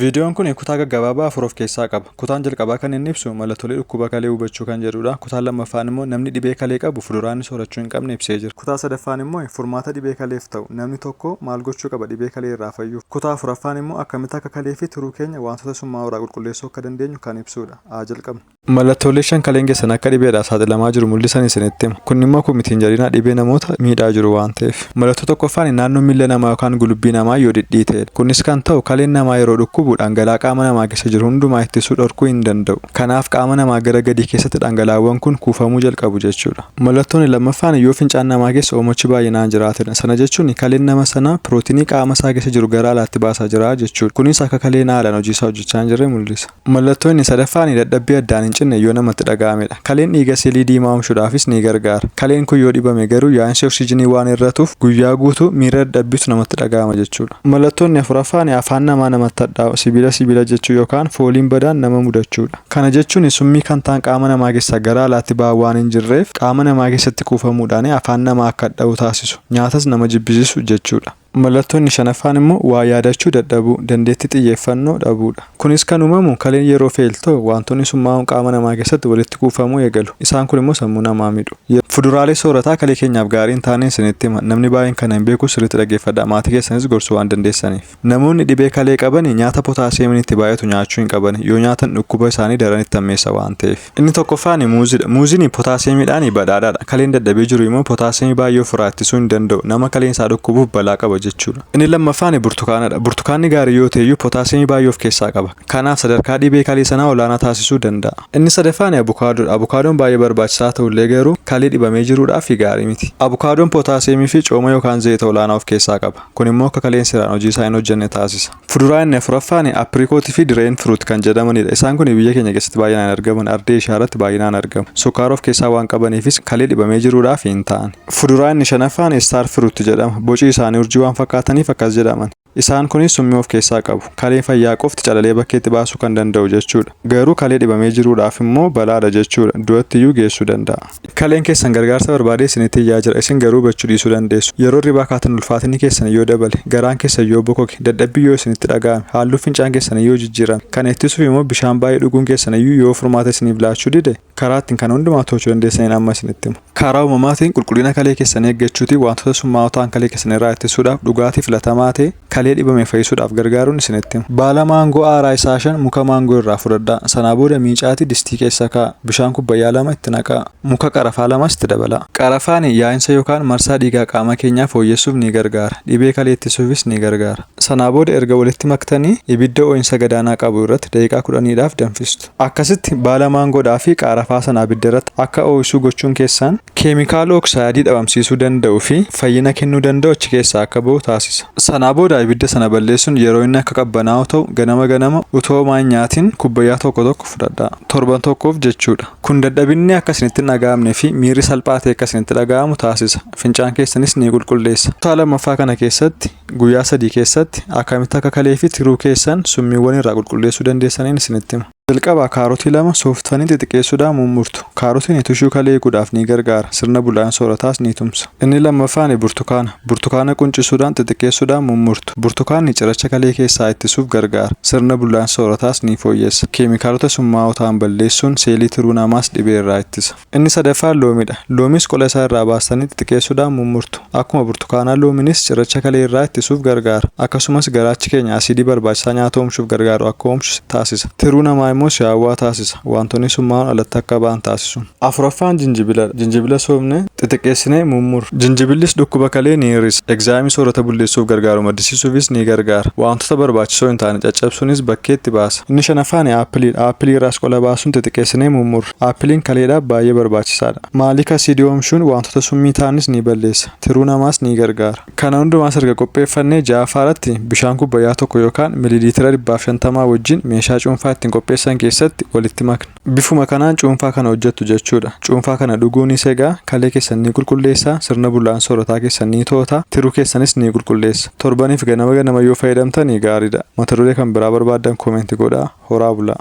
Viidiyoon kun kutaa gaggabaabaa afur of keessaa qaba. Kutaan jalqabaa kan inni ibsu mallattoolee dhukkuba kalee hubachuu kan jedhuudha. Kutaan lammaffaan immoo namni dhibee kalee qabu fuduraa inni soorachuu hin qabne ibsee jira. Kutaa sadaffaan immoo furmaata dhibee kaleef ta'u, namni tokko maal gochuu qaba dhibee kalee irraa fayyuuf. Kutaa afuraffaan immoo akkamitti akka kalee fi tiruu keenya waantota summaa'oo irraa qulqulleessuu akka dandeenyu kan ibsuudha. Haa jalqabnu. Mallattoolee shan kaleen keessan akka dhibeedhaaf saaxilamaa jiru mul'isan isinitti hima. Kun dhimma koo miti hin jedhinaa dhibee namoota miidhaa jiru waan ta'eef. Mallattoo tokkoffaani naannoo miilla namaa yookaan gulubbii namaa yoo dhidhiiteedha. Kunis kan ta'u kaleen namaa yeroo dhukkubu dhangala'aa qaama namaa keessa jiru hundumaa ittisuu dhorkuu hin danda'u. Kanaaf qaama namaa gara gadii keessatti dhangala'aawwan kun kuufamuu jalqabu jechuudha. Mallattooni lammaffaani yoo fincaan namaa keessa oomochi baay'inaan jiraatedha. Sana jechuun kaleen nama sanaa pirootinii qaama isaa keessa jiru gara alaatti baasaa jira jechuudha. Kunis akka kaleen haalaan hojiisaa hojjechaa hin jirre mul'isa. Mallattoo inni sadaffaani dadhabbii addaan hin cinne yoo namatti dhaga'amedha. Kaleen dhiiga seelii diimaa omshuudhaafis ni gargaara. Kaleen kun yoo dhibame garuu yaa'insi oksijinii waan hir'atuuf guyyaa guutuu miira dadhabbiitu namatti dhaga'ama jechuudha. Mallattoo inni afuraffaani afaan namaa namatti hadhaa'u, sibiila sibiila jechuu yookaan fooliin badaan nama mudachuudha. Kana jechuun summii kan ta'an qaama namaa keessaa gara alaatti ba'aa waan hin jirreef qaama namaa keessatti kuufamuudhaani afaan namaa akka hadha'u taasisu, nyaatas nama jibbisiisu jechuudha. Mallattoo inni shanaffaan immoo waa yaadachuu dadhabuu, dandeettii xiyyeeffannoo dhabuu dha. Kunis kan uumamu kaleen yeroo feeltoo waantonni summaa'oon qaama namaa keessatti walitti kuufamuu eegalu. Isaan kun immoo sammuu namaa midhu. Yeroo. Fuduraalee soorataa kalee keenyaaf gaarii hin taaneen isinitti hima. Namni baay'een kana hin beeku sirriitti dhaggeeffadhaa. Maatii keessanis gorsuu waan dandeessaniif. Namoonni dhibee kalee qabani nyaata potaasiyeemiin itti baay'atu nyaachuu hin qabani. Yoo nyaatan dhukkuba isaanii daran itti hammeessa waan ta'eef. Inni tokkoffaan muuzidha. Muuzini potaasiyeemiidhaan badhaadhaadha. Kaleen dadhabee jiru immoo potaasiyeemii baay'ee ofirraa ittisuu hin danda'u. Nama kaleen isaa dhukkubuuf balaa qaba jechuudha. Inni lammaffaan burtukaanadha. Burtukaanni gaarii yoo ta'eyyuu potaasiyeemii baay'ee of keessaa qaba. Kanaaf sadarkaa dhibee kalee sanaa olaanaa taasisuu danda'a. Inni sadaffaan abukaadoodha. Abukaadoon baay'ee barbaachisaa ta'ullee garuu kalee dhibamee jiruudhaaf gaarii miti. Abukaadoon potaasiyeemiifi cooma yookaan zayita olaanaa of keessaa qaba. Kunimmoo akka kaleen seeraan hojiisaa hin hojjenne taasisa. Fuduraa inni afuraffaan apricot fi drain fruit kan jedhamanidha. Isaan kun biyya keenya keessatti baay'inaan argaman ardii Eeshiyaa irratti baay'inaan argamu. Sukkaara of keessaa waan qabaniifis kalee dhibamee jiruudhaaf hin ta'an. Fuduraa inni shanaffaan star fruit jedhama. Boci isaanii urjii waan fakkaataniif akkas jedhaman. Isaan kunis summii of keessaa qabu. Kalee fayyaa qofti calalee bakkeetti baasuu kan danda'u jechuudha. Garuu kalee dhibamee jiruudhaaf immoo balaadha jechuudha. Du'atti iyyuu geessuu danda'a. Kaleen keessan gargaarsa barbaadee isinitti iyyaa jira, isin garuu hubachuu dhiisuu dandeessu. Yeroo hirribaa kaatan ulfaatinni keessan yoo dabale, garaan keessan yoo bokoke, dadhabbiin yoo isinitti dhaga'ame, halluun fincaan keessanii yoo jijjiirame, kana ittisuuf immoo bishaan baay'ee dhuguun keessan iyyuu yoo furmaata isiniif laachuu dide, karaa ittiin kana hundumaa to'achuu dandeessaniin amma isinitti hima. Karaa uumamaatiin qulqullina kalee keessanii eeggachuutiin waantota summaa'oo ta'an kalee keessan irraa ittisuudhaaf dhugaatii filatamaa ta'e, Kalee dhibame fayyisuudhaaf gargaaruun isinitti hima. Baala maangoo aaraa isaa shan muka maangoo irraa fudhadhaa. Sanaa booda miicaatii distii keessa kaa'a. Bishaan kubbayyaa lama itti naqaa. Muka qarafaa lamas itti dabalaa. Qarafaani yaa'insa yookaan marsaa dhiigaa qaama keenyaa fooyyessuuf ni gargaara. Dhibee kalee ittisuufis ni gargaara. Sanaa booda erga walitti maktanii ibidda oo'insa gadaanaa qabu irratti daqiiqaa kudhaniidhaaf danfistu. Akkasitti baala maangoodhaa fi qaarafaa sana abidda irratti akka oo'isuu gochuun keessaan keemikaala oksaayidii dhabamsiisuu danda'u fi fayyina kennuu danda'u achi keessaa akka ba'u taasisa. Sanaa booda ibidda sana balleessuun yeroo inni akka qabbanaa'u ta'u ganama ganama utuu homaa hin nyaatiin kubbayyaa tokko tokko fudhadhaa. Torban tokkoof jechuu dha. Kun dadhabinni akka isinitti hin dhaga'amne fi miirri salphaa ta'e akka isinitti dhaga'amu taasisa. Fincaan keessanis ni qulqulleessa. Kutaa lammaffaa kana keessatti Guyyaa sadii keessatti akkamitti akka kalee fi tiruu keessan summiiwwan irraa qulqulleessuu dandeessaniin isinitti hima. Jalqaba kaarotii lama sooftanii xixiqeessuudhaan mummurtu. Kaarotiin tushuu kalee eeguudhaaf ni gargaara, sirna bullaa'in soorataas ni tumsa. Inni lammaffaani burtukaana. Burtukaana quncisuudhaan xixiqeessuudhaan mummurtu. Burtukaanni ciracha kalee keessaa ittisuuf gargaara, sirna bullaa'insa soorataas ni fooyyessa. Keemikaalota summaa'oo ta'an balleessuun seelii tiruu namaas dhibee irraa ittisa. Inni sadaffaan loomiidha. Loomiis qola isaa irraa baastanii xixiqeessuudhaan mummurtu. Akkuma burtukaanaa loominis cirracha kalee irraa ittisuuf gargaara. Akkasumas garaachi keenya asiidii barbaachisaa nyaata oomshuuf gargaaru akka oomshu taasisa. Tiruu namaa immoo si'aawwaa taasisa. Waantonni summaa'oon alatti akka ba'an taasisuun. Afuraffaan jinjibiladha. Jinjibila soofne xixiqeessinee mummurru. Jinjibillis dhukkuba kalee ni hir'isa. Egzaayimii soorata bulleessuuf gargaaru maddisiisuufis ni gargaara. Waantota barbaachisoo hin taane caccabsuunis bakkeetti baasa. Inni shanaffaan aappiliidha. Aappilii irraas qola baasuun xixiqeessinee mummurra. Appiliin kaleedhaaf baay'ee barbaachisaadha. Maaliik asiidii oomshuun waantota summii ta'anis ni balleessa, tiruu namaas ni gargaara. Kana hundumaas erga qopheeffannee ja'affaaratti bishaan kubbayyaa tokko yookaan miliiliitira dhibbaaf shantamaa wajjin meeshaa cuunfaa ittiin qopheessan keessatti walitti makna. Bifuma kanaan cuunfaa kana hojjettu jechuudha. Cuunfaa kana dhuguu ni segaa, kalee keessan ni qulqulleessa, sirna bullaa'insa soorataa keessan ni to'ata, tiruu keessanis ni qulqulleessa. Torbaniif ganama ganama yoo fayyadamtani gaariidha. Mata duree kan biraa barbaaddan comment godhaa. Horaa bulaa!